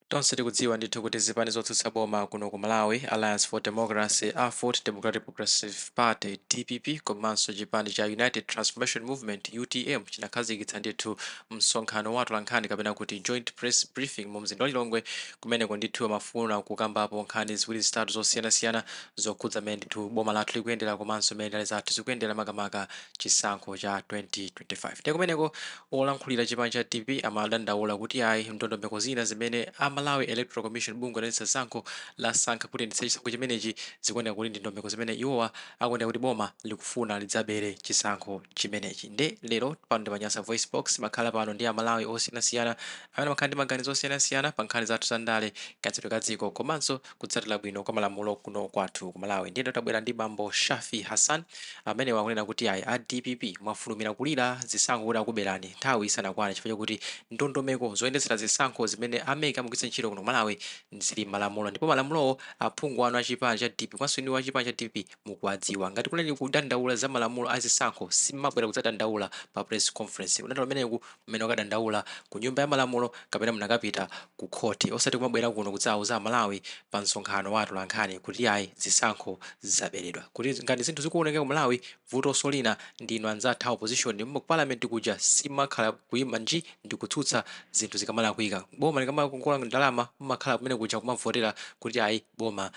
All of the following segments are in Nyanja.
Tonse tikudziwa ndithu kuti zipani zotsutsa boma kuno ku Malawi, Alliance for Democracy, Aford, Democratic Progressive Party, dpp, komanso chipani cha United Transformation Movement, utm, chinakhazikitsa ndithu msonkhano wa atolankhani kapena kuti Joint Press Briefing mu mzinda wa Lilongwe kumeneko ndithu amafuna kukambapo nkhani ziwiri zitatu zosiyanasiyana zokhudza mmene ndithu boma lathu likuyendera komanso mmene ndale zathu zikuyendera makamaka chisankho cha 2025. Ndiye kumeneko Olankhulira chipani cha dpp amadandaula kuti ayi ndondomeko zina zimene a Malawi Electoral Commission, bungwe loyendetsa zisankho, lasankha kuti iyendetse chisankho chimenechi zikuoneka kuti ndi ndondomeko zimene iwowa akuoneka kuti boma likufuna lidzabere chisankho chimenechi nde lero pano ndi pa Nyasa VoiceBox timakhala pano ndi a Malawi osiyanasiyana amene amakhala ndi maganizo osiyanasiyana pa nkhani zathu za ndale, kayendetsedwe ka dziko komanso. kutsatila bwino kwa malamulo kuno kwathu ku Malawi ndiye nda tabwera ndi bambo Shaffie Hassan amenewa akunena kuti ayi a dpp mwafulumira kulira zisankho kuti akuberani nthawi isanakwane chifukwa chakuti ndondomeko zoyendetsera zisankho zimene a mec amagwiritsa ntchito kuno ku Malawi zili m'malamulo ndipo malamulowo aphungu anu a chipani cha dpp komanso inuyo a chipani cha dpp mukuwadziwa. Ngati kunali kudandaula za malamulo a zisankho simabwera kudzadandaula pa press conference. Kudandaula kumeneku mmene mukadandaula ku nyumba ya malamulo kapena munakapita ku khoti osati kumabwera kuno kudzawauza Amalawi pa msonkhano wa atolankhani kuti ayi zisankho zaberedwa. Kuti ngati zinthu zikuonongeka ku Malawi vutoso lina ndi inu anzathu a opposition ku parliament kuja simakhala kuima nji ndi kutsutsa zinthu zikamalakwika. Boma likamakongola ndalama mumakhala kumene kuja kumavotera kuti ayi boma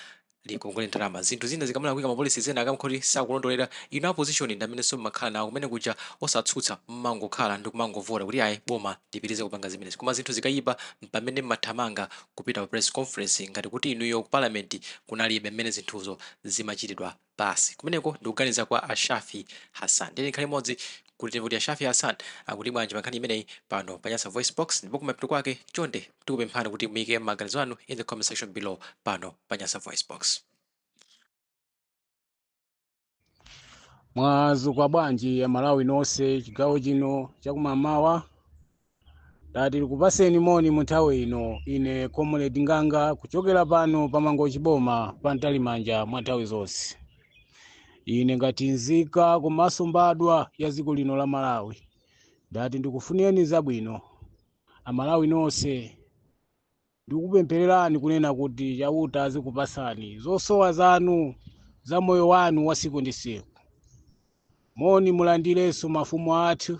likongole ndalama zinthu zina zikamalakwika mapolicy ena akamkhoti sakulondolera inu a opposition ndamenenso mmakhala nawo kumene kuja osatsutsa mmangokhala ndikumangovota kuti ayi boma lipitirize kupanga zimenezi koma zinthu zikayipa mpamene mmathamanga kupita pa press conference ngati kuti inuyo ku parliament kunalibe mmene zinthuzo zimachitidwa basi kumeneko ndikuganiza kwa a shafi hassan tiyeni tikhale limodzi kuti timve kuti a shafi hassan akuti bwanji pa nkhani imeneyi pano pa nyasa voice box ndipo kumapeto kwake chonde Tikupemphani kuti muike maganizo anu in the comment section below pano pa Nyasa Voicebox. mwazuka bwanji amalawi nonse chigawo chino chakumamawa ndati ndikupaseni moni mu nthawi ino ine comrade nganga kuchokera pano pa mangochi boma pa mtalimanja mwa nthawi zonse ine ngati nzika komanso mbadwa ya dziko lino la malawi ndati ndikufunireni zabwino amalawi nonse ndikupemphererani kunena kuti chauta azikupasani zosowa zanu za moyo wanu wa siku ndi siku moni mulandirenso mafumu athu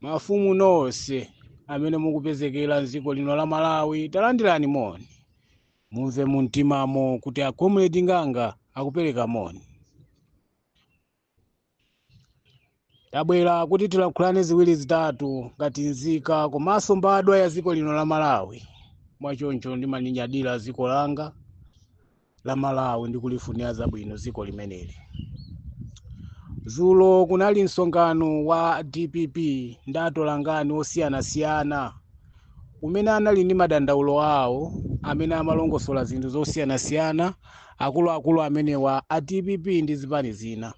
mafumu nonse amene mukupezekera mdziko lino la malawi talandirani moni mumve mumtimamo kuti a comrade nganga akupereka moni Tabwera kuti tilankhulane ziwiri zitatu ngati nzika komanso mbadwa ya dziko lino la Malawi. Mwachoncho ndimalinyadira dziko langa la Malawi ndi kulifunira zabwino dziko limeneli. Dzulo kunali msonkhano wa dpp ndi atolankhani osiyanasiyana umene anali ndi madandaulo awo amene amalongosola zinthu zosiyanasiyana akuluakulu amenewa a dpp ndi zipani zina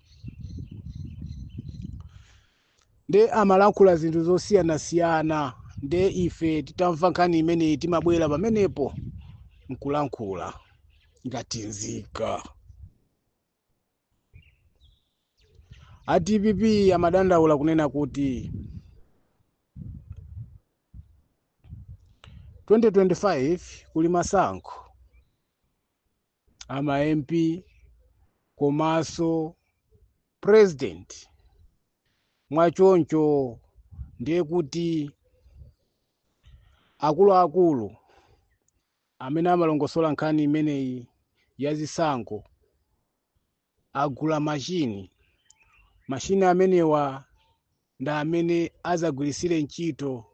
nde amalankhula zinthu zosiyanasiyana nde ife titamva nkhani imeneyi timabwera pamenepo nkulankhula ngati nzika a dpp amadandaula kunena kuti 2025 kuli masankho ama mp komanso president mwachoncho ndiye kuti akuluakulu amene amalongosola nkhani imeneyi ya zisankho agula machine. Machine amenewa ndi amene adzagwiritsire ntchito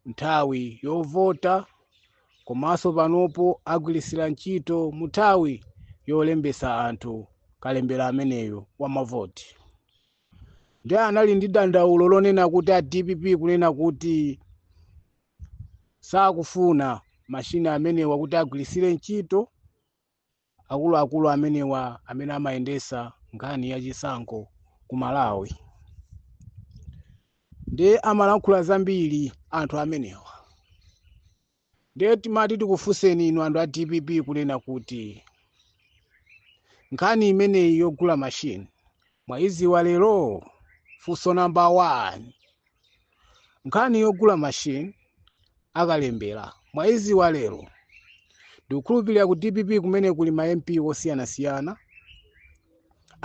nthawi yovota komanso panopo agwiritsira ntchito munthawi yolembetsa anthu kalembera ameneyo wa mavoti. Ndiye anali ndi dandaulo lonena kuti a dpp kunena kuti sakufuna machine amenewa kuti agwiritsire ntchito. akuluakulu amenewa amene amayendesa nkhani ya chisankho ku Malawi nde amalankhula zambiri anthu amenewa nde timati tikufunseni inu anthu a dpp kunena kuti nkhani imeneyi yogula machine mwayiziwa lero funso number one nkhani yogula machine akalembera mwaiziwa lero ndikukhulupirira ku dpp kumeneko kuli ma mp osiyanasiyana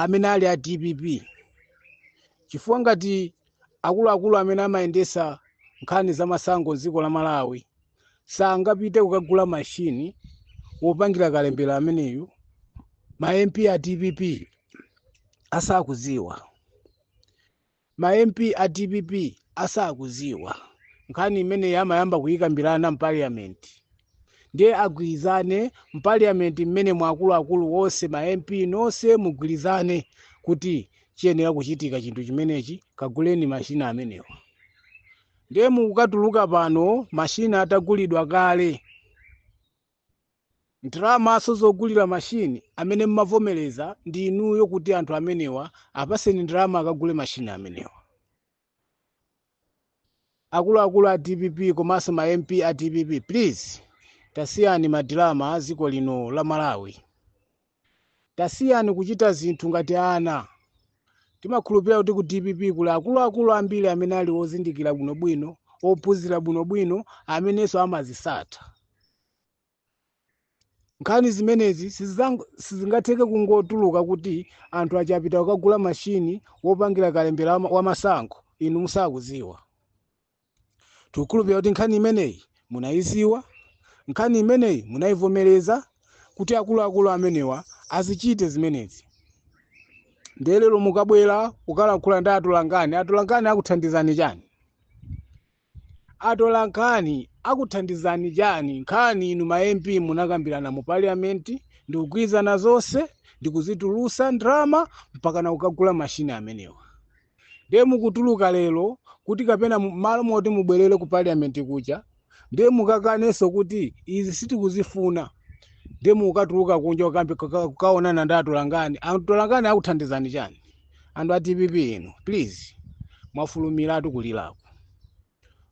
amene ali a dpp chifukwa ngati akuluakulu amene amayendesa nkhani za masankho m'dziko la malawi sangapite kukagula mashini wopangira kalembera ameneyu ma mp a dpp asakuziwa Ma MP a dpp asakuziwa nkhani imeneyi amayamba kuyikambilana m'parliament ndiye agwilizane m'parliament mmenemo akulu akulu onse ma MP nonse mugwilizane kuti chiyenera kuchitika chinthu chimenechi kaguleni machine amenewa ndiye mukukatuluka pano machine atagulidwa kale. Ndalamaso zogulira machine amene mmavomereza ndi inuyo kuti anthu amenewa apaseni ndalama akagule machine amenewa. Akuluakulu a dpp komanso ma MP a dpp please tasiyani madilama a ziko lino la Malawi. Tasiyani kuchita zinthu ngati ana. Timakhulupirira kuti ku dpp kuli akuluakulu ambiri amene ali ozindikira bwinobwino, ophunzira bwinobwino amenenso amazitsata. Nkhani zimenezi sizingatheke kungotuluka kuti anthu aja apita kukagula machine wopangira kalembera wa masankho inu musakuziwa. Tikukhulupirira kuti nkhani imeneyi munaidziwa, nkhani imeneyi munaivomereza kuti akuluakulu amenewa azichite zimenezi. Ndiye lero mukabwera kukalankhula ndi atolankhani, atolankhani akuthandizani chani? Atolankhani akuthandizani chani? Nkhani inu ma MP munakambirana mu parliament ndikugwirizana zonse ndikuzitulutsa ndalama mpakana kukagula machine amenewa. Ndiye mukutuluka lero kuti kapena mu- malo moti mubwerere ku parliament kuja ndiye mukakanenso kuti izi sitikuzifuna ndiye mukatuluka kunja kukambi- kuka- kukaonana ndi atolankhani atolankhani akuthandizani chani anthu a dpp inu please mwafulumiratu kulirako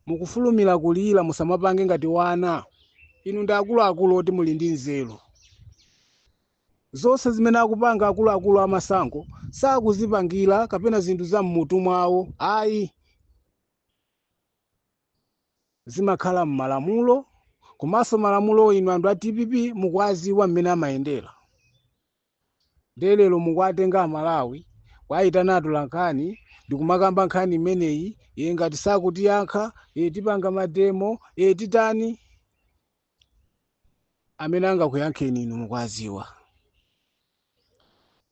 mukufulumira kulira musamapange ngati wana inu ndi akuluakulu oti muli ndi nzeru Zonse zimene akupanga akuluakulu a masankho sakuzipangira kapena zinthu za m'mutu mwawo ayi. Zimakhala m'malamulo komanso malamulowo inu anthu a dpp mukuwaziwa mmene amayendera. Ndiye lero mukuwatenga Amalawi kuwayitana atolankhani ndikumakamba nkhani imeneyi, ee ngati sakutiyankha, ee tipanga mademo, ee titani. Amene angakuyankheni inu mukuaziwa.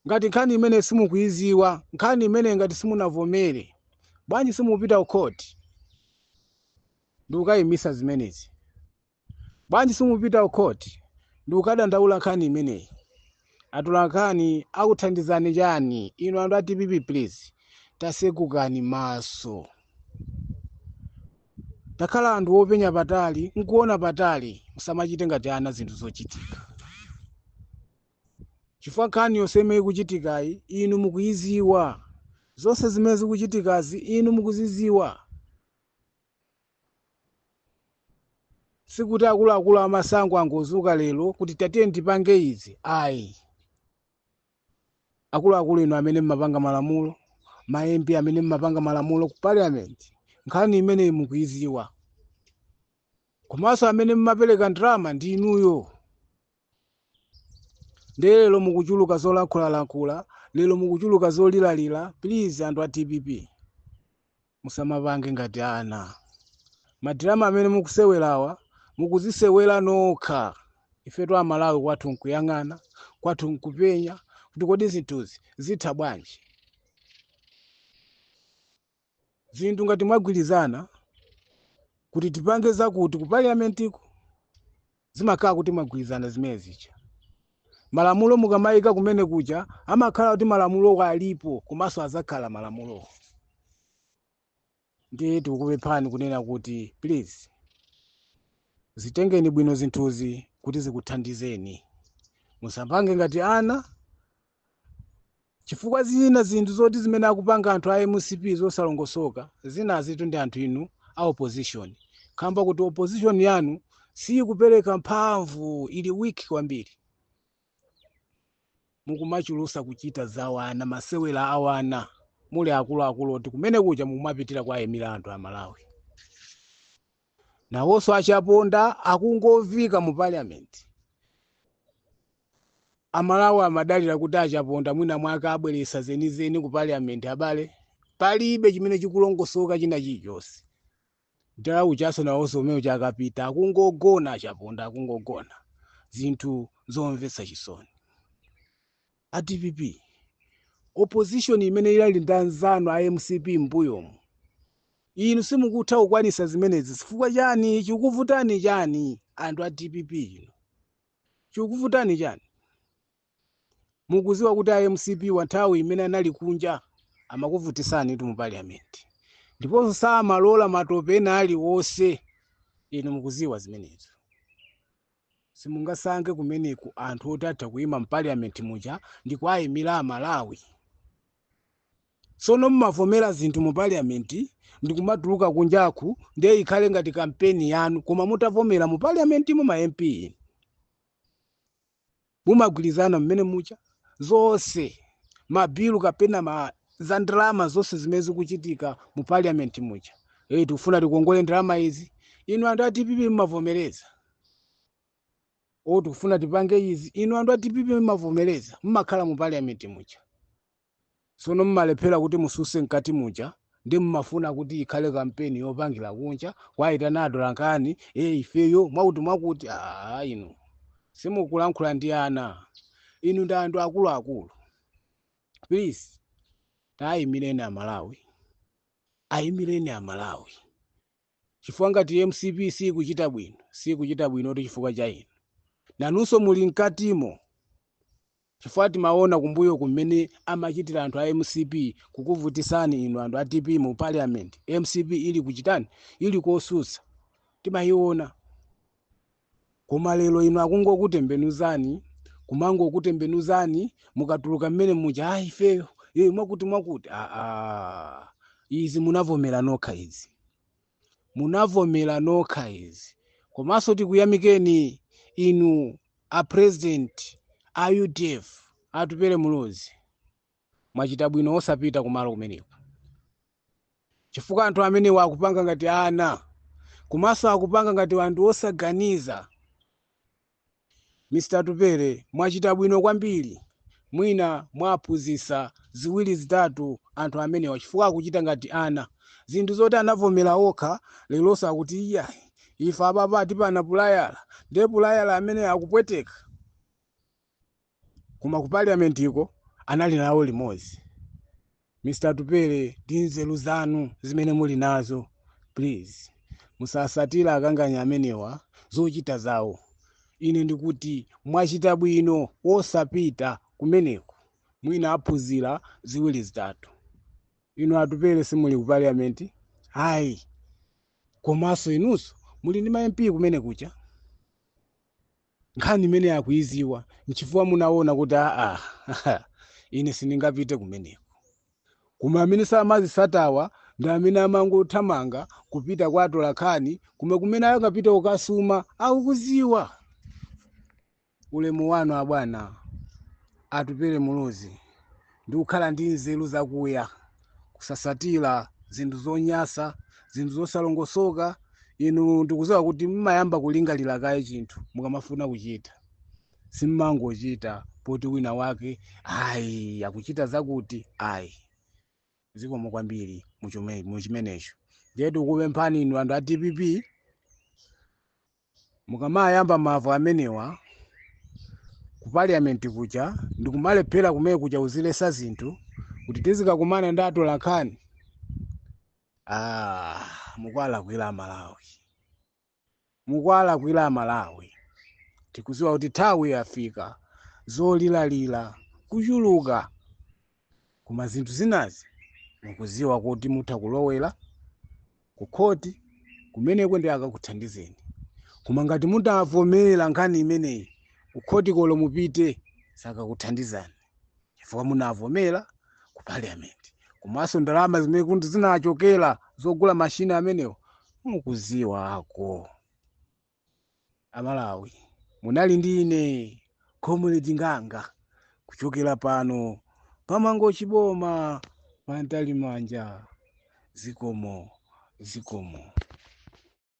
Ngati nkhani imeneyi simukuiziwa, nkhani imeneyi ngati simunavomere, bwanji simupita ku court ndikukaimisa zimenezi? Bwanji simupita ku court ndikukadandaula nkhani imeneyi? Atolankhani akuthandizani chani inu anthu a dpp please tasegukani maso. Takhalani anthu openya patali nkuona patali musamachite ngati ana zinthu zochitika chifukwa nkhani yonse imene ikuchitikayi inu mukuiziwa zonse zimene zikuchitikazi inu mukuziziwa sikuti akuluakulu a masankho angozuka lero kuti tatiyeni tipange izi ayi Akuluakulu inu amene mmapanga malamulo, ma MP amene mmapanga malamulo ku parliament, nkhani imeneyi mukuiziwa. Komanso amene mmapereka ndalama ndi inuyo. Ndiye lero mukuchuluka zolankhulalankhula, lero mukuchuluka zoliralira, please anthu a dpp. Musamapange ngati ana. Ma drama amene mukusewerawa mukuzisewera nokha. Ifetu a Malawi kwathu n'kuyang'ana, kwathu n'kupenya kuti kodi zinthuzi zitha bwanji. Zinthu ngati mwagwirizana kuti tipange zakuti ku parliament'ko, zimakhala kuti mwagwirizana zimene zija. Malamulo mukamayika kumene kuja amakhala kuti malamulowo alipo komanso adzakhala malamulowo. Ndiye tikukupemphani kunena kuti please zitengeni bwino zinthuzi kuti zikuthandizeni. Musapange ngati ana chifukwa zina zinthu zoti zimene akupanga anthu a mcp zosalongosoka zinazitu ndi anthu inu a opposition kamba kuti opposition yanu siyikupereka mphamvu ili weak kwambiri mukumachulusa kuchita zawana masewera awana muli akuluakulu oti kumene kuja mukumapitira kuwayimira anthu a malawi Nawonso a Chaponda akungoviika mu Parliament. A Malawi amadalira kuti a Chaponda mwina mwake abweresa zenizeni ku Parliament abale? Palibe chimene chikulongosoka china chilichonse. Nthawi ijanso nawonso kumene kuja akapita akungogona a Chaponda akungogona. Zinthu zomvesa chisoni. a dpp opposition imene inali ndi anzanu a mcp m'mbuyomu inu simukutha kukwanisa zimenezi chifukwa chani chikuvutani chani anthu a dpp inu chikuvutani chani mukuziwa kuti a mcp wa nthawi imene anali kunja amakuvutisani tu mu parliament ndiponso samalola matope ena aliwonse inu mukuziwa zimenezo Simungasanje kumeneku anthu oti atha kuima mpaliament muja ndikuaimila amalawi? Sono mumavomela zinthu mu paliament ndikumatuluka kunjaku ndiye ikhale ngati kampeni yanu koma mutavomela mu paliamentimo ma MP inu? mumagwirizana mmene muja zonse mabilu kapena za ndalama zonse zimene zikuchitika mu parliament muja eh tikufuna tikongole ndalama izi inu anthu a dpp mmavomereza o tikufuna tipange izi inu anthu a dpp mmavomereza mmakhala mu parliament muja Tsono mumalephera kuti mususe mkati muja nde mumafuna kuti ikhale kampeni yopangira kunja kwaitana atolankhani ee ifeyo mwakutimwakuti aah inu simukulankhula ndi ana inu ndi anthu akuluakulu please tayimireni amalawi ayimireni amalawi chifukwa ngati mcp siikuchita bwino siikuchita bwinotu chifukwa cha inu nanunso muli mkatimo Chifukwa timaona kumbuyoku mmene amachitira anthu a mcp kukuvutisani inu anthu a dpp mu parliament mcp ili kuchitani ili kosutsa timayiona koma lero inu akungokutembenuzani kumangokutembenuzani mukatuluka mmene muja a ifeyo e, mwakuti mwakuti aa izi munavomera nokha izi. munavomera nokha izi komanso tikuyamikeni inu a president a udf Atupele Muluzi mwachita bwino osapita kumalo kumeneko chifukwa anthu amenewa akupanga ngati ana komanso akupanga ngati anthu osaganiza Mr Atupele mwachita bwino kwambiri mwina mwaphunzisa ziwiri zitatu anthu amenewa chifukwa akuchita ngati ana zinthu zoti anavomera okha leronso akuti iyayi ife apapa atipana pulayala nde pulayala ameneyo akupweteka. Koma ku parliament ko anali nawo limodzi. Mr Atupele ndi nzeru zanu zimene muli nazo please musasatile akanganya amenewa zochita zawo. Ine ndikuti mwachita bwino osapita kumeneko mwina aphunzira ziwiri zitatu. Inu Atupele simuli ku parliament ayi komanso inunso muli ndi ma MP kumene kuja. nkhani imene akuiziwa nchifukwa munaona kuti aa ine sindingapite kumeneko koma amene samazisatawa ndi amene amangothamanga kupita kwa atolankhani koma kumene akapite kukasuma akukuziwa ulemu wanu abwana atupele muluzi ndi kukhala ndi nzeru zakuya, kusasatira zinthu zonyasa, zinthu zosalongosoka. Inu ndikuziwa kuti mmayamba kulingalira kaye chinthu mukamafuna kuchita. Simmangochita poti wina wake ayi akuchita zakuti ayi. Zikomo kwambiri muchimenecho. Ndiye tikupemphani inu anthu a dpp Mukamayamba mavu amenewa ku parliament kuja ndikumalephera kumene kuja kuzilesa zinthu kuti tizikakumana ndi atolankhani ah, mukuwalakwira amalawi mukuwalakwira amalawi tikuziwa kuti nthawi yafika zoliralira kuchuluka Koma zinthu zinazi mukudziwa kuti mutha kulowela Ku court kumeneko ndiye akakuthandizeni koma ngati mutavomela nkhani imeneyi Ku court ko olo mupite sakakuthandizani chifukwa munavomela Ku parliament komanso ndalama zimene kuti zinachokela zogula machine amenewo mukudziwako. amalawi munali ndi ine comrade nganga kuchokera pano pamangochi boma pa Mtalimanja zikomo zikomo